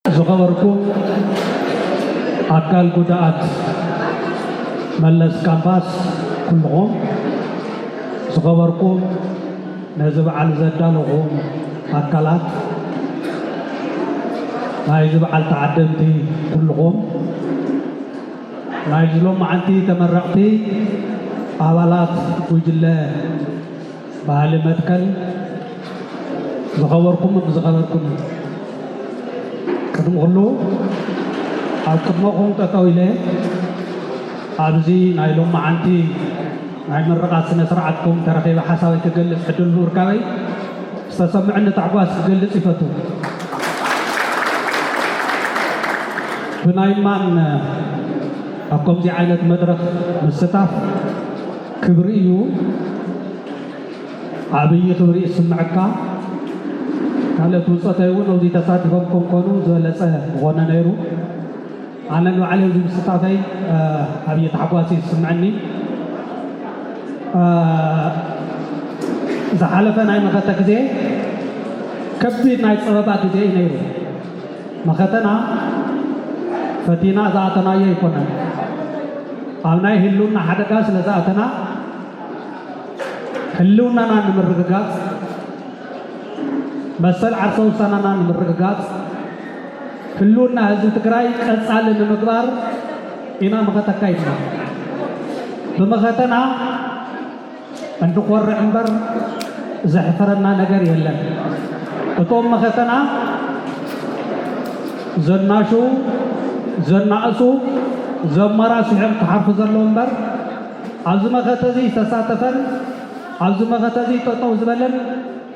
ዝኸበርኩም ኣካል ጉዳኣት መለስ ካምፓስ ኩሉኹም፣ ዝኸበርኩም ነዚ በዓል ዘዳለኹም ኣካላት፣ ናይዚ በዓል ተዓደምቲ ኩሉኹም፣ ናይዚ ሎምዓንቲ ተመረቕቲ ኣባላት ጉጅለ፣ ባህሊ መትከል ዝኸበርኩምን ዝኸበርኩምን ቅድሚ ኩሉ ኣብ ቅድመኹም ጠጠው ኢለ ኣብዚ ናይ ሎማዓንቲ ናይ ምርቓት ስነ ስርዓትኩም ተረኺበ ሓሳበይ ክገልፅ ዕድል ብምርካበይ ዝተሰምዕኒ ታሕጓስ ክገልፅ ይፈቱ ብናይ ማን ኣብ ከምዚ ዓይነት መድረኽ ምስታፍ ክብሪ እዩ ዓብይ ክብሪ ይስመዐካ ካልኦት ብፆተይ እውን ኣብዙይ ተሳቲፎም ከምኮኑ ዝበለፀ ምኾነ ነይሩ ኣነ ንባዕለይ ኣብዚ ምስታፈይ ዓብይ ታሕጓስ እዩ ዝስምዐኒ ዝሓለፈ ናይ መኸተ ግዜ ከቢድ ናይ ፀበባ ግዜ እዩ ነይሩ መኸተና ፈቲና ዝኣተናዮ ኣይኮነን። ኣብ ናይ ህልውና ሓደጋ ስለ ዝኣተና ሕልውናና ንምርግጋፅ፣ መሰል ዓርሰ ውሳናና ንምርግጋፅ፣ ህልውና ህዝቢ ትግራይ ቀፃሊ ንምግባር ኢና መኸተ ኣካይድና። ብመኸተና እንኮርዕ እምበር ዘሕፍረና ነገር የለን እቶም መኸተና ዘናሽዉ ዘናእሱ ዘመራስሑም ክሓርፉ ዘለዉ እምበር ኣብዚ መኸተ እዚ ዝተሳተፈን ኣብዚ መኸተ እዚ ጠጠው ዝበለን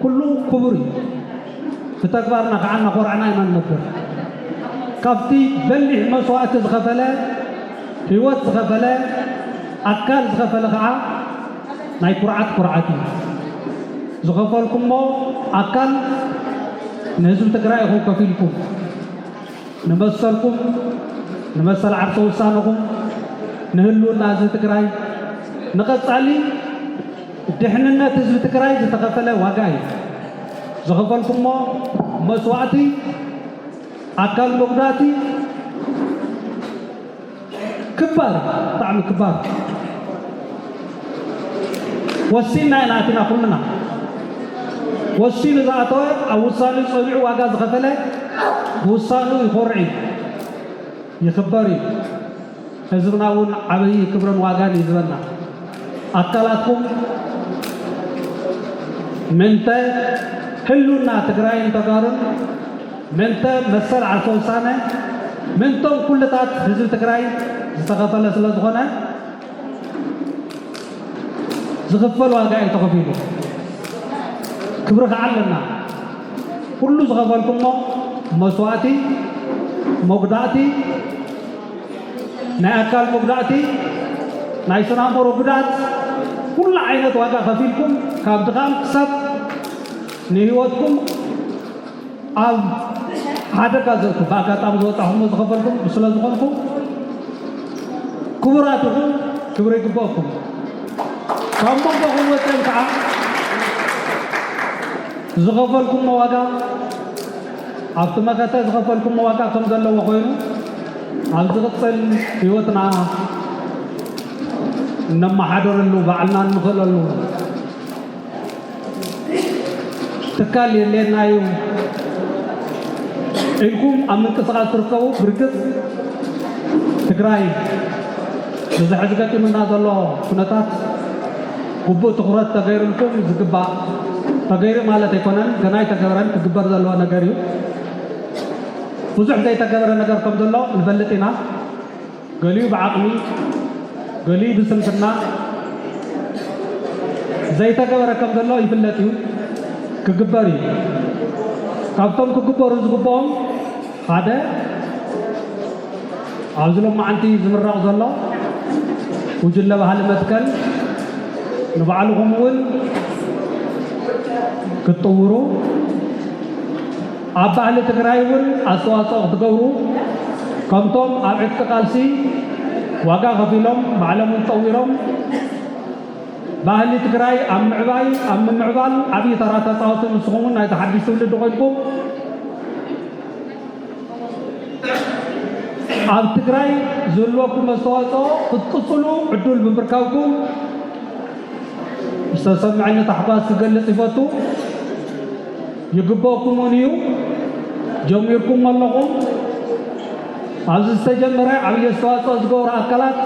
ኩሉ ክቡር እዩ ብተግባርና ከዓ እናኾርዕና ኢና ንነብር ካብቲ በሊሕ መስዋእቲ ዝኸፈለ ህይወት ዝኸፈለ ኣካል ዝኸፈለ ኸዓ ናይ ኩርዓት ኩርዓት እዩ። ዝኸፈልኩሞ ኣካል ንህዝቢ ትግራይ ኢኹም ከፊልኩም ንመሰልኩም ንመሰል ዓርሰ ውሳነኹም ንህልውና ህዝቢ ትግራይ ንቐፃሊ ድሕንነት ህዝቢ ትግራይ ዝተኸፈለ ዋጋ እዩ። ዝኸፈልኩሞ መስዋእቲ ኣካል መጉዳእቲ ክባር ብጣዕሚ ክባር ወሲንና ኢና ኣቲና ኩልና ወሲኑ ዝኣተወ ኣብ ውሳኔኡ ጸኒዑ ዋጋ ዝኸፈለ ብውሳኔኡ ይኾርዕ እዩ። ይክበር እዩ ህዝብና እውን ዓበይ ክብርን ዋጋን ይዝበና ኣካላትኩም ምንተ ህሉና ትግራይን ተጋሩን ምንተ መሰል ዓርሰ ውሳነ ምንቶም ኩልታት ህዝቢ ትግራይ ዝተኸፈለ ስለዝኾነ ዝኽፈል ዋጋ እዩ ተኸፊሉ ክብሪ ከዓ ኣለና ኩሉ ዝኸፈልኩሞ መስዋእቲ መጉዳእቲ ናይ ኣካል መጉዳእቲ ናይ ስናምሮ ጉዳት ኩሉ ዓይነት ዋጋ ከፊልኩም ካብ ድኻም ክሳብ ንህይወትኩም ኣብ ሓደጋ ዘእቱ ብኣጋጣሚ ዝወፃኹሞ ዝኸፈልኩም ስለዝኾንኩም ክቡራት ኢኹም ክብሪ ይግበእኩም ካብ መንጎኹም ወፅኦም ከዓ ዝኸፈልኩሞ ዋጋ ኣብቲ መኸተ ዝኸፈልኩሞ ዋጋ ከም ዘለዎ ኮይኑ ኣብ ዝቕፅል ህይወትና እነመሓደረሉ ባዕልና እንኽእለሉ ትካል የድልየና እዩ ኢልኩም ኣብ ምንቅስቓስ ትርከቡ ብርግፅ ትግራይ እዚ ሕዚ ገጢሙና ዘሎ ኩነታት ግቡእ ትኹረት ተገይሩልኩም ዝግባእ ተገይሩ ማለት ኣይኮነን ገና ኣይተገበረን ክግበር ዘለዎ ነገር እዩ ብዙሕ ዘይተገበረ ነገር ከም ዘሎ ንፈልጥ ኢና ገሊኡ ብዓቕሚ ገሊኡ ብስንፍና ዘይተገበረ ከም ዘሎ ይፍለጥ እዩ፣ ክግበር እዩ። ካብቶም ክግበሩ ዝግብኦም ሓደ ኣብዚ ሎማዓንቲ ዝምረቕ ዘሎ ጉጅለ ባህሊ መትከል ንባዕልኹም እውን ክትጥውሩ ኣብ ባህሊ ትግራይ እውን ኣስተዋፅኦ ክትገብሩ ከምቶም ኣብ ዕጥቂ ቃልሲ ዋጋ ከፊሎም ባዕሎም እውን ፀዊሮም ባህሊ ትግራይ ኣብ ምዕባይ ኣብ ምምዕባል ዓብዪ ተራ ተፃወቲ ንስኹም እውን ናይቲ ሓድሽ ትውልዲ ኮይንኩም ኣብ ትግራይ ዝህልወኩም መስተዋፅኦ ክትቅፅሉ ዕዱል ብምርካብኩም ዝተሰምዐኒ ታሕጓስ ክገልፅ ይፈቱ። ይግበእኩም'ውን እዩ ጀሚርኩሞ ኣለኹም። ኣብዚ ዝተጀመረ ዓብይ ኣስተዋፅኦ ዝገብሩ ኣካላት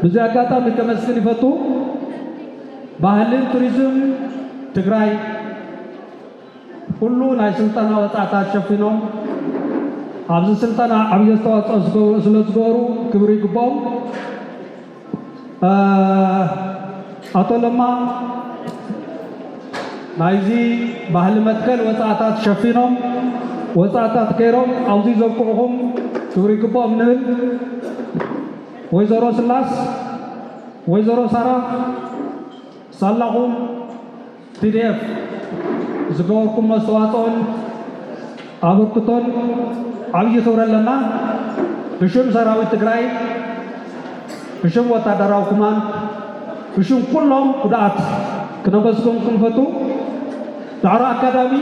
ብዚ ኣጋጣሚ ከመስግን ይፈቱ። ባህልን ቱሪዝም ትግራይ ኩሉ ናይ ስልጠና ወፃእታት ሸፊኖም ኣብዚ ስልጠና ዓብይ ኣስተዋፅኦ ስለዝገበሩ ክብሪ ይግበኦም። ኣቶ ለማ ናይዚ ባህሊ መትከል ወፃእታት ሸፊኖም ወፃእታት ገይሮም ኣብዚ ዘብቅዕኹም ክብሪ ይግብኦም ንብል። ወይዘሮ ስላስ ወይዘሮ ሳራ ሳላኹም tpdf ዝገበርኩሞ ኣስተዋፅኦን ኣበርክቶን ዓብዪ ክብሪ ኣለና። ብሽም ሰራዊት ትግራይ፣ ብሽም ወታደራዊ ኩማንድ፣ ብሽም ኩሎም ጉድኣት ክነመስግንኩም ንፈቱ። ዳዕሮ ኣካዳሚ።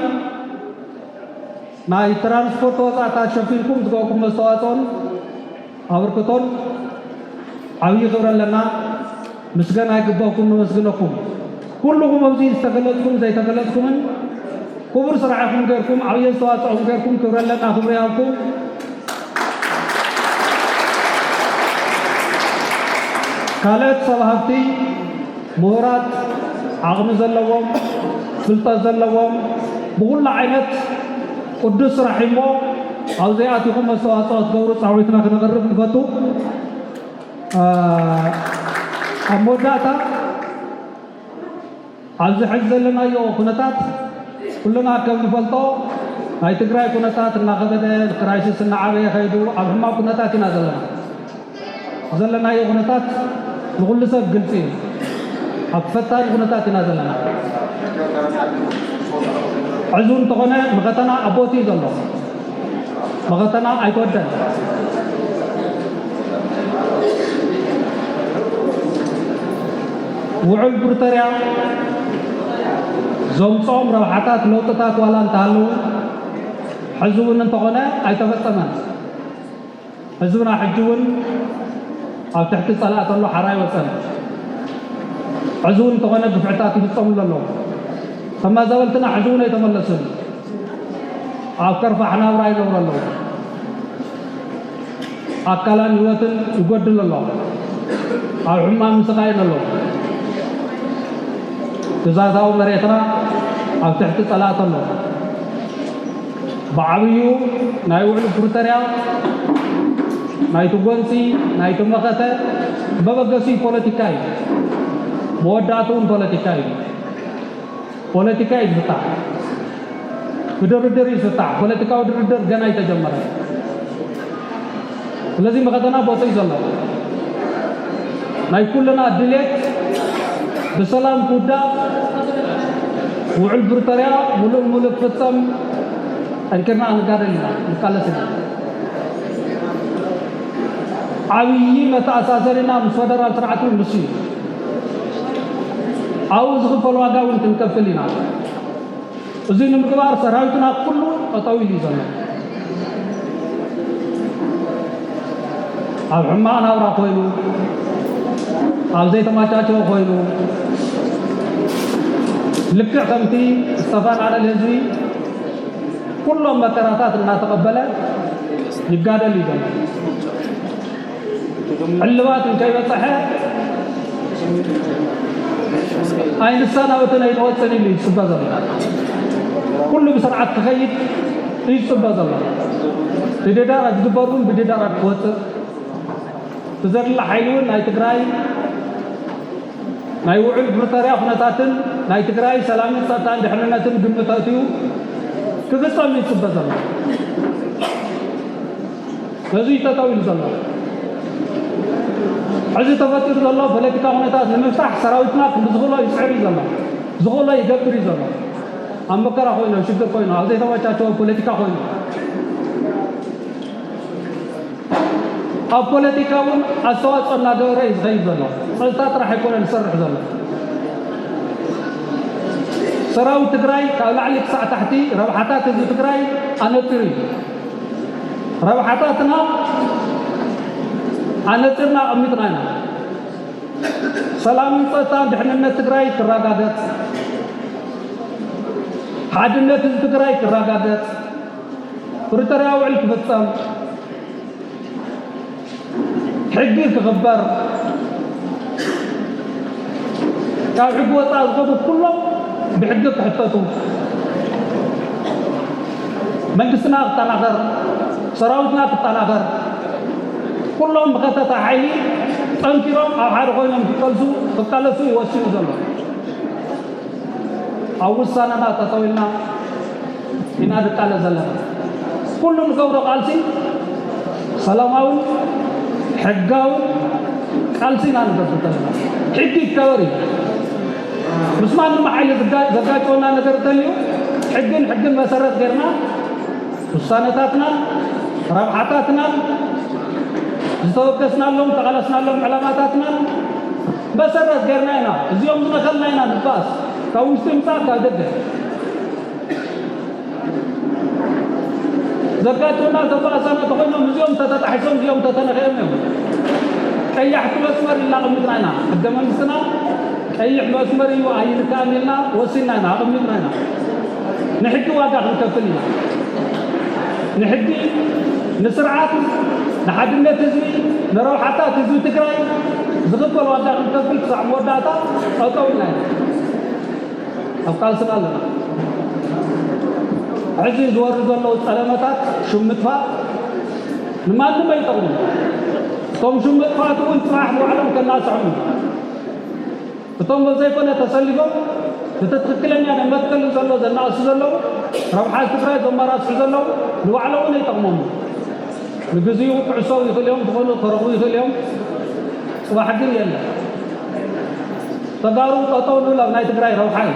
ናይ ትራንስፖርት ወፃእታት ሸፊንኩም ዝገበርኩም መስተዋፅኦን ኣበርክቶን ዓብዪ ክብሪ ኣለና ምስገና ይግበኩም ነመስግነኩም ኩሉኹም ኣብዚ ዝተገለፅኩም ዘይተገለፅኩምን ክቡር ስራሕ ኢኹም ገይርኩም ዓብዪ ኣስተዋፅኦ ገይርኩም ክብሪ ኣለና ክብሪ ይሃብኩም ካልኦት ሰብ ሃብቲ ምሁራት፣ ዓቕሚ ዘለዎም፣ ፍልጠት ዘለዎም፣ ብኹሉ ዓይነት ቅዱስ ስራሕ እዩ እሞ ኣብዙይ ኣቲኹም ኣስተዋፅኦ ክትገብሩ ፃዊዕትና ክነቕርብ ንፈቱ። ኣብ መወዳእታ ኣብዚ ሕዚ ዘለናዮ ኩነታት ኩልና ከም ንፈልጦ ናይ ትግራይ ኩነታት እናኸበደ ክራይሲስ እናዓበየ ከይዱ ኣብ ሕማቕ ኩነታት ኢና ዘለና። ዘለናዮ ኩነታት ንኹሉ ሰብ ግልፂ እዩ። ኣብ ፈታኒ ኩነታት ኢና ዘለና። ሕዚ እንተኾነ መኸተና ኣብ ቦትኡ እዩ ዘሎ። መኸተና ኣይተወደን። ውዑል ፕሪቶርያ ዘምፅኦም ረብሓታት ለውጥታት ዋላ እንተሃለዉ ሕዚ እውን እንተኾነ ኣይተፈፀመን። ህዝብና ሕጂ ውን ኣብ ትሕቲ ጸላእ ተሎ ሓራ ኣይወጸን ሕዚ ውን እንተኾነ ግፍዕታት ይፍጸምሉ ኣለዉ ተማዛበልትና ሕዚ ውን ኣይተመለሱን ኣብ ከርፋሕ ናብራ ይነብሩ ኣለዉ ኣካላን ህይወትን ይጎድል ኣሎ ኣብ ሕማም ይስቃይን ኣሎ ግዛታዊ መሬትና ኣብ ትሕቲ ጸላእ ተሎ ብዓብዩ ናይ ውዕሊ ፕሪቶርያ ናይቲ ጎንፂ ናይቲ መኸተ መበገሲኡ ፖለቲካ እዩ። መወዳእትኡ እውን ፖለቲካ እዩ። ፖለቲካ እዩ ዝስጣዕ። ብድርድር እዩ ዝስጣዕ። ፖለቲካዊ ድርድር ገና ኣይተጀመረን። ስለዚ መኸተና ቦትኡ እዩ ዘሎ። ናይ ኩልና ድሌት ብሰላም ክውዳእ፣ ውዑል ብሪቶርያ ሙሉእ ንሙሉእ ክፍፀም ጠንኪርና ክንጋደል ኢና፣ ክንቃለስ ኢና። ዓብዪ መተኣሳሰሪና ምስ ፈደራል ስርዓት እውን ንሱ እዩ። ኣብኡ ዝኽፈል ዋጋ እውን ክንከፍል ኢና። እዙይ ንምግባር ሰራዊትና ኣብ ኩሉ ጠጠው ኢሉ እዩ ዘሎ። ኣብ ሕማቕ ናብራ ኮይኑ፣ ኣብ ዘይተመቻቸወ ኮይኑ ልክዕ ከምቲ ዝተፈናቐለ ህዝቢ ኩሎም መከራታት እናተቐበለ ይጋደል እዩ ዘሎ። ዕልባት እንከይበፀሐ ኣይንሳናበትን ኣይንወፅን ኢሉ እዩ ዝፅበ ዘሎ ኩሉ ብስርዓት ክኸይድ እዩ ዝፅበ ዘሎ ብድዳር ዝግበር እውን ብድዳራት ክወፅእ ብዘድሊ ሓይሊ እውን ናይ ትግራይ ናይ ውዕል ፕሪቶርያ ኩነታትን ናይ ትግራይ ሰላምን ፀጥታን ድሕንነትን ግምት ኣእትዩ ክፍፀም እዩ ዝፅበ ዘሎ ነዙይ ጠጠው ኢሉ ዘሎ ሕዚ ተፈጢሩ ዘሎ ፖለቲካ ኩነታት ንምፍታሕ ሰራዊትና ክንዲ ዝኽእሎ ይፅዕር እዩ ዘሎ፣ ዝኽእሎ ይገብር እዩ ዘሎ። ኣብ መከራ ኮይኑ፣ ኣብ ሽግር ኮይኑ፣ ኣብ ዘይተመቻቸወ ፖለቲካ ኮይኑ ኣብ ፖለቲካ እውን ኣስተዋፅኦ እናገበረ እዩ ዝኸይድ ዘሎ። ፀጥታ ጥራሕ ኣይኮነን ዝሰርሕ ዘሎ። ሰራዊት ትግራይ ካብ ላዕሊ ክሳዕ ታሕቲ ረብሓታት ህዝቢ ትግራይ ኣነፂሩ እዩ። ረብሓታትና ኣነጺርና ኣቐሚጥና ኢና። ሰላምን ፀጥታን ድሕንነት ትግራይ ክረጋገፅ፣ ሓድነት ህዝቢ ትግራይ ክረጋገፅ፣ ፕሪቶርያዊ ውዕል ክፍፀም ሕጊ ክኽበር ካብ ሕጊ ወፃእ ዝኾኑ ኩሎም ብሕጊ ክሕተቱ መንግስትና ክጠናኸር ሰራዊትና ክጠናኸር ኩሎም መኸተታ ሓይሊ ጠንኪሮም ኣብ ሓደ ኮይኖም ክቀልሱ ክቃለሱ ይወስኑ ዘሎ ኣብ ውሳነና ጠጠው ኢልና ኢና ንቃለስ ዘለና። ኩሉ ንገብሮ ቃልሲ ሰላማዊን ሕጋውን ቃልሲ ኢና ንገብር ዘለና። ሕጊ ይከበር እዩ። ምስ ማንም ሓይሊ ዘጋጨወና ነገር እንተልዩ ሕግን ሕግን መሰረት ገይርና ውሳነታትናን ረብሓታትናን ዝተወገስናሎም ተቓለስናሎም ዕላማታትናን መሰረት ገርና ኢና እዚኦም ዝነኸልና ኢና ንባኣስ ካብ ውሽጢ ይምፃእ ካብ ደገ ዘጋጥሙና ዘባእሳና ተኾይኖም እዚኦም ተተጣሒሶም እዚኦም ተተነኸዮም እዮም ቀያሕቲ መስመር ኢልና ኣቐሚጥና ኢና ሕገ መንግስትና ቀይሕ መስመር እዩ ኣይንካእን ኢልና ወሲንና ኢና ኣቐሚጥና ኢና ንሕጊ ዋጋ ክንከፍል ኢና ንሕጊ ንስርዓት ንሓድነት ህዝቢ ንረብሓታት ህዝቢ ትግራይ ዝኽፈል ዋጋ ክንከፍል ክሳዕ መወዳእታ ጠጠው ኢልና ኢና ኣብ ቃልስና ኣለና ሕዚ ዝወርዱ ዘለዉ ፀለመታት ሹም ምጥፋእ ንማንም ኣይጠቕሙ እቶም ሹም ምጥፋእት እውን ፅባሕ ንባዕሎም ከናስሖም እቶም በዘይኮነ ተሰሊፎም እቲ ትክክለኛ ናይ መትከል ዘሎ ዘናእሱ ዘለዉ ረብሓ ትግራይ ዘማራስሑ ዘለዉ ንባዕሎምን ኣይጠቕሞምን ንግዚኡ ክዕሰው ይኽእል እዮም ዝኾኑ ከረቡ ይኽእል እዮም ፅባሕ ግን የለን ተጋሩ ጠጠው ንብል ኣብ ናይ ትግራይ ረብሓ እዩ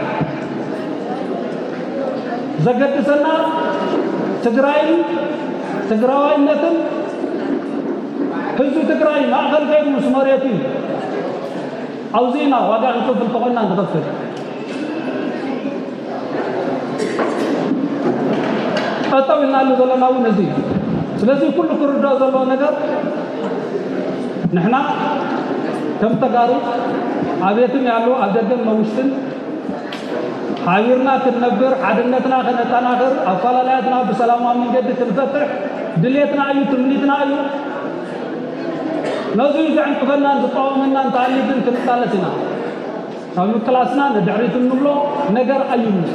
ዘገድሰና ትግራይን ትግራዋይነትን ህዝቢ ትግራይ ማእኸል ገይሩ ምስ መሬቱ እዩ ኣብዙይ ኢና ዋጋ ክንከፍል ተኾይና ንኸፍል። ጠጠው ኢልናሉ ዘለና እውን እዚ እዩ። ስለዚ ኩሉ ክርዳኦ ዘለዎ ነገር ንሕና ከም ተጋሩ ኣብየትም ያሉ ኣብ ደገን መውሽትን ሓቢርና ክንነብር ሓድነትና ከነጠናኽር ኣፈላለያትና ብሰላማዊ መንገዲ ክንፈትሕ ድሌትና እዩ ትምኒትና እዩ። ነዙይ ዘዕንቅፈናን ዝቃወመናን እንተሃልዩ ግን ክንቃለስ ኢና። ካብ ምቅላስና ንድሕሪት እንብሎ ነገር ኣይህሉን።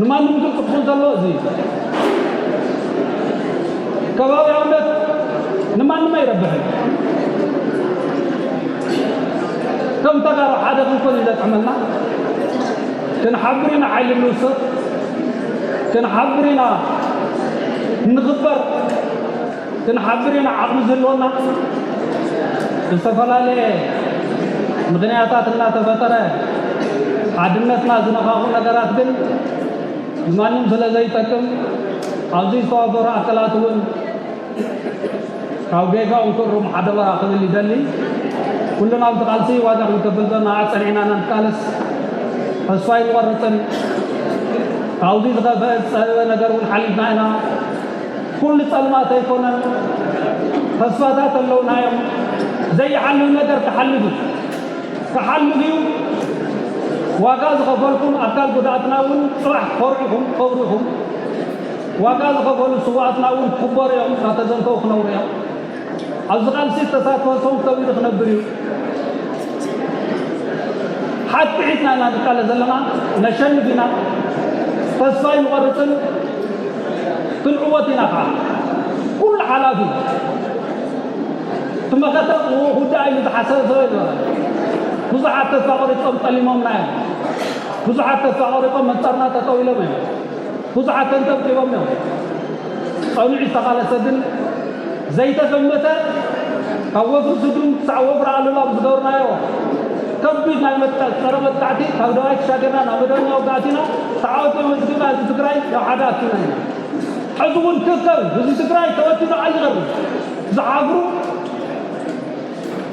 ንማንም ግልፂ ክኹን ዘሎ እዚ እዩ። ከባብያውነት ንማንም ኣይረብሕን። ከም ተጋሩ ሓደ ክንኮን እዩ ዘጥዕመና። ክንሓብር ኢና ሓይሊ ንውስኽ። ክንሓብር ኢና ንኽበር ክንሓብር ኢና ዓቕሚ ዝህልወና ዝተፈላለየ ምኽንያታት እናተፈጠረ ሓድነትና ዝነኻኹ ነገራት ግን ንማንም ስለ ዘይጠቅም ኣብዚ ዝተዋፈሩ ኣካላት እውን ካብ ጌጋኡ ክእርሙ ሓደራ ክብል ይደሊ። ኩልና ኣብቲ ቃልሲ ዋጋ ክንከፍል ዘለና ኣጸኒዕና ኢና ንቃለስ። ተስፋ ኣይንቆርጽን። ካብዚ ዝኸፈኤ ዝጸበበ ነገር እውን ሓሊፍና ኢና። ኩሉ ጸልማት ኣይኮነን። ተስፋታት ኣለውና እዮም። ዘይሓልፍ ነገር ክሓልፍ እዩ። ክሓልፍ እዩ። ዋጋ ዝኸፈልኩም ኣካል ጉዳኣትና እውን ጽባሕ ክኾርዑኹም ክኸብሩ ኢኹም። ዋጋ ዝኸፈሉ ስውኣትና እውን ክኽበሩ እዮም፣ እናተዘንተዉ ክነብሩ እዮም። ኣብዚ ቃልሲ ዝተሳትፈ ሰው ከቢሩ ክነብር እዩ። ሓቂ ሒዝና ኢና ንቃለ ዘለና፣ ነሸንፍ ኢና፣ ተስፋ ኣይንቆርፅን፣ ክንዕወት ኢና ከዓ ኩሉ ሓላፊ እቲ መኸተ ክውዳእ ኢሉ ዝሓሰበ ሰብ ኣይነበረ። ብዙሓት ተስፋ ቆሪፆም ጠሊሞምና እዮም። ብዙሓት ተስፋ ቆሪፆም መንፃርና ጠጠው ኢሎም እዮም። ብዙሓት ተንጠብጢቦም እዮም። ጸኑዕ ዝተቓለሰ ግን ዘይተገመተ ካብ ወፍሪ ስዱን ክሳዕ ወፍሪ ኣሉላ ብዝገበርናዮ ከቢድ ናይ መጥቃ- ጸረ መጥቃዕቲ ካብ ደባይ ተሻገርና ናብ መደበኛ ውግኣት ኢና ተዓወቲ መዝግብና ህዝቢ ትግራይ ናብ ሓደ ኣኪብና ኢና። ሕዚ እውን ክከብ ህዝቢ ትግራይ ተበቲኑ ዓሊ ቐርኒ ዝሓፍሩ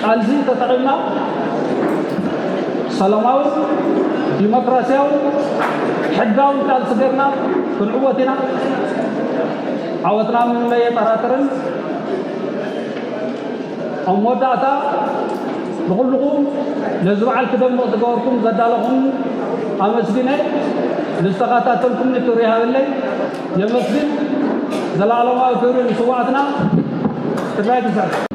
ቃልዚ ተጠቒምና ሰላማውን ዲሞክራስያውን ሕጋውን ቃልሲ ጌርና ክንዕወት ኢና። ዓወትና ምንም ኣየጠራጥርን። ኣብ መወዳእታ ንኹልኹም ነዚ በዓል ክደምቕ ዝገበርኩም ዘዳለኹም ኣመስግነ ንዝተኸታተልኩምኒ ክብሪ ይሃበለይ የመስግን። ዘላለማዊ ክብሪ ንስዋኣትና! ትግራይ ትስዕር!